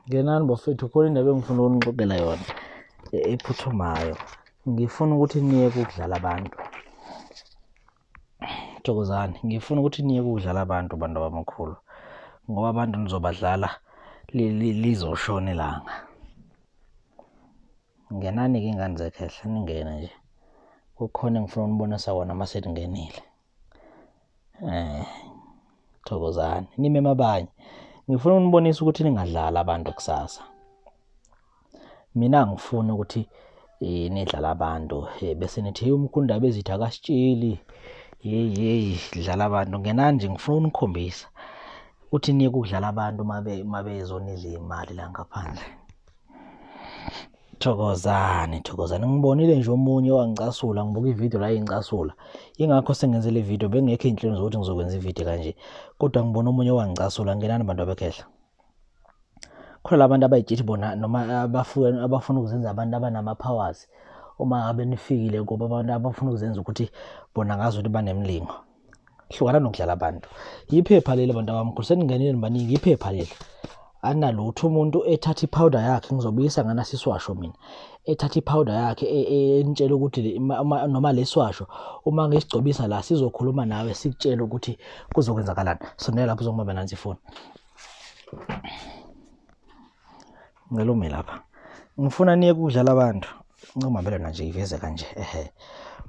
ngenani bafethu khona indaba engifuna ukunixoxela yona e-, ephuthumayo ngifuna ukuthi niye kudlala abantu thokozani ngifuna ukuthi niye kudlala abantu bantu abamakhulu ngoba abantu nizobadlala lizoshona ilanga ngenani-ke ingane zekhehla ningene nje kukhona engifuna unibonisa wona uma seningenile Eh, thokozani nimeme abanye ngifuna unibonisa ukuthi ningadlali abantu kusasa mina ngifuna ukuthi eh, nidlala abantu eh, bese nithi "Hey, umkhunda bezitha akasitsheli yeyi yeyi dlala abantu ngenani nje ngifuna unikhombisa ukuthi niyeke ukudlala abantu uma be- uma bezonidla imali la ngaphandle Thokozani, thokozani. Ngibonile nje omunye owangicasula, ngibuka ividiyo la ingicasula. Yingakho sengenze le vidiyo, bengekho iy'nhlelo zokuthi ngizokwenza ividiyo kanje. Kodwa ngibona omunye owangicasula, ngenani bantu abekhehla. Khona la bantu abay'tshithi bona noma abafuna abafuna ukuzenza abantu abanama-powers uma ngabe nifikile kubo abantu abafuna ukuzenza ukuthi bona ngazukuthi banemlingo. hlukana nokudlala abantu yiphepha leli bantu abamkhulu seningenile nibaningi yiphepha leli analutho umuntu ethatha iphawuda yakhe ngizobuyisa ngana siswasho mina ethatha iphawuda yakhe e, e, entshela ukuthi noma leswasho uma ngisigcobisa la sizokhuluma nawe sikutshela ukuthi kuzokwenzakalani sonela lapho uzongibamba nansi ifoni ngicela ume lapha ngifuna niye kudlala abantu ncoma vele nanje iveze kanje ehe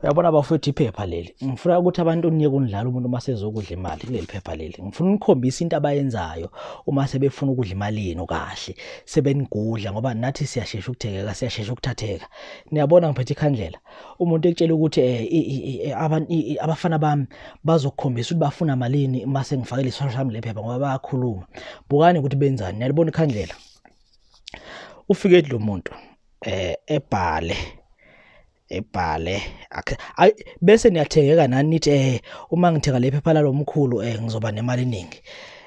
uyabona bafowethu iphepha leli ngifuna ukuthi abantu niye kunidlala umuntu uma sezokudla imali kuleli phepha leli ngifuna unikhombisa into abayenzayo uma sebefuna ukudla imali yenu kahle sebenigudla ngoba nathi siyashesha ukuthekeka siyashesha ukuthatheka niyabona ngiphethe ikhandlela umuntu ekutshela ukuthi eh, eh, abafana bami bazokukhombisa ukuthi bafuna malini uma sengifakele isosha lami lephepha ngoba bayakhuluma bukani ukuthi benzani niyalibona ikhandlela ufike lo muntu eh ebhale ebhale ayi bese niyathengeka nani nithi eh uma ngithenga lephepha lalomkhulu eh ngizoba nemali eningi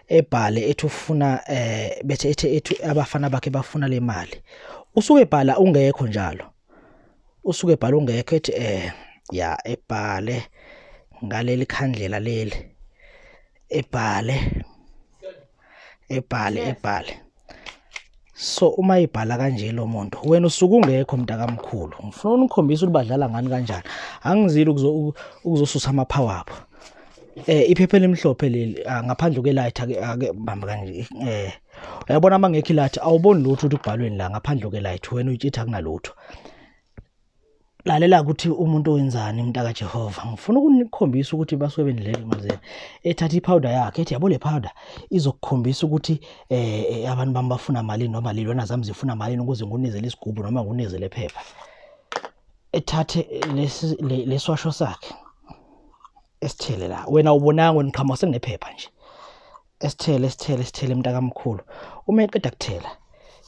ebhale ethi ufuna eh bethe ethi abafana bakhe bafuna le mali usuke ebhala ungekho njalo usuke ebhala ungekho ethi eh ya ebhale ngaleli khandlela leli ebhale ebhale ebhale so uma ibhala kanje lo muntu wena usuke ungekho mntakamkhulu ngifuna unikhombisa ukuthi badlala ngani kanjani angizile ukuzosusa amaphawa abo eh iphepha elimhlophe leli ah, ngaphandle kwelight ake ake bamba kanje eh uyabona uma ngekho ilathi awuboni lutho ukuthi kubhalweni la ngaphandle kwelight wena uyitshitha kunalutho lalela ukuthi umuntu wenzani umntaka Jehova ngifuna ukunikhombisa ukuthi baswebeni leli mazela ethatha iphawuda yakhe ethi yabo le phawuda izokukhombisa ukuthi eh, eh abantu bami bafuna malini noma lilona zami zifuna malini ukuze ngunezele isigubhu noma ngunezele phepha ethathe leswasho sakhe esithele la wena ubonanga wena qhamuka sekunephepha nje esithele esithele esithele mntakamkhulu uma eqeda kuthela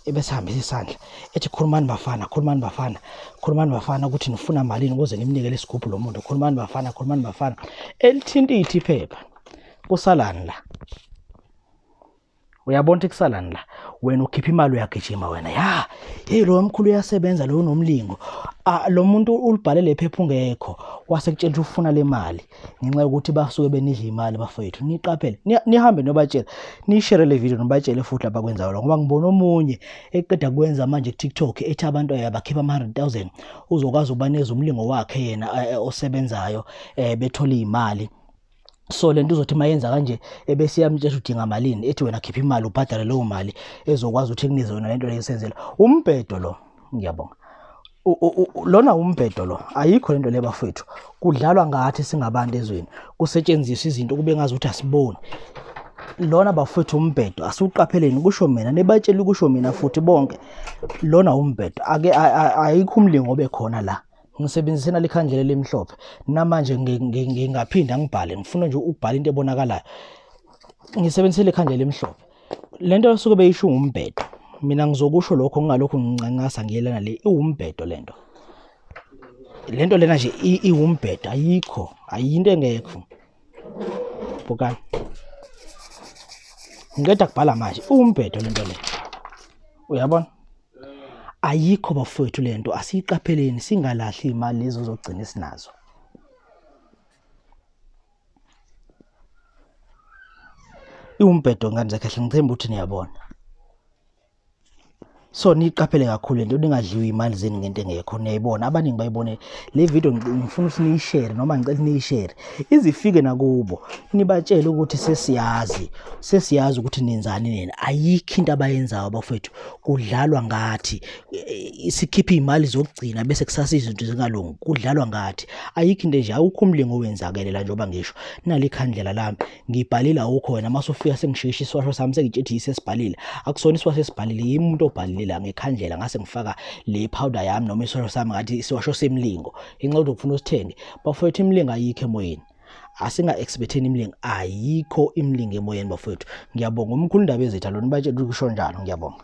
ebesihambisa isandla ethi khulumani bafana khulumani bafana khulumani bafana ukuthi nifuna malini ukuze nimnike lesigubhu lo muntu khulumani bafana khulumani bafana elithinta ithi iphepha kusalani la uyabona ukuthi kusalani la wena ukhipha imali uyagijima wena ya hey lo mkhulu uyasebenza lo nomlingo ah, lo muntu ulibhale lephepha ungekho wase kutshela ukuthi ufuna le mali ngenxa yokuthi basuke benidla imali bafowethu niqaphele nihambe nobatshela nishere le video nobatshele futhi lapha kwenzayo lo ngoba ngibona omunye eqeda kwenza manje ku-tiktok ethi abantu ayabakhipha ama-100 000 uzokwazi ukubaneza umlingo wakhe yena eh, osebenzayo um bethole iy'mali so lento uzothi mayenza kanje ebese yamtshela udinga malini ethi wena khipha imali ubhadale leyo mali ezokwazi ukuthi kunize yona lento leyisenzela umbhedo lo ngiyabonga lona umbhedo lo ayikho lento le bafethu kudlalwa ngathi singabantu ezweni kusetshenziswa izinto kube ngazi ukuthi asiboni lona bafethu umbhedo asiwuqapheleni kusho mina nibatshela kusho mina futhi bonke lona umbhedo ake ayikho umlingo obekhona la ngisebenzise nalikhandlela elimhlophe namanje ngingaphinda ngibhale ngifuna nje ukubhala into ebonakalayo ngisebenzise lekhandlela elimhlophe lento esuke beyisho ngumbhedo mina ngizokusho lokho ngingalokhu ngincancasa ngiyelana le iwumbhedo lento lento lena nje iwumbhedo ayikho ayinto engekho bukani ngiqeda kubhala manje umbhedo lento le uyabona ayikho bafowethu lento asiyiqapheleni singalahli imali lezo zogcina esinazo iwumbhedo ngane zakhe hle ngithemba ukuthi niyabona so niyiqaphele kakhulu lento ningadliwa imali zeni ngento engekho niyayibona abaningi bayibone le video ngifuna ukuthi niyishare noma ngicela niyishare izifike nakubo nibatshele ukuthi sesiyazi sesiyazi ukuthi nenzani nina ayikho into abayenzayo bafethu kudlalwa ngathi sikhipha izimali zokugcina bese kusasa izinto zingalungi kudlalwa ngathi ayikho into nje awukho umlingo owenzakele la njengoba ngisho nali khandlela lami ngibhalile awukho wena mase ufika sengishishi iswasho sami sengitshethi yisesibhalile akusona iswasho esibhalile yimuntu obhalile la ngekhandlela ngase ngifaka le powder yami noma iswasho sami ngathi iswasho semlingo inxa uzokufuna usithenge bafowethu imlingo ayikho emoyeni asinga-expecteni imilingo ayikho imilingo emoyeni bafowethu ngiyabonga umkhulu indaba ezetha lona batshela ukuthi kusho njalo ngiyabonga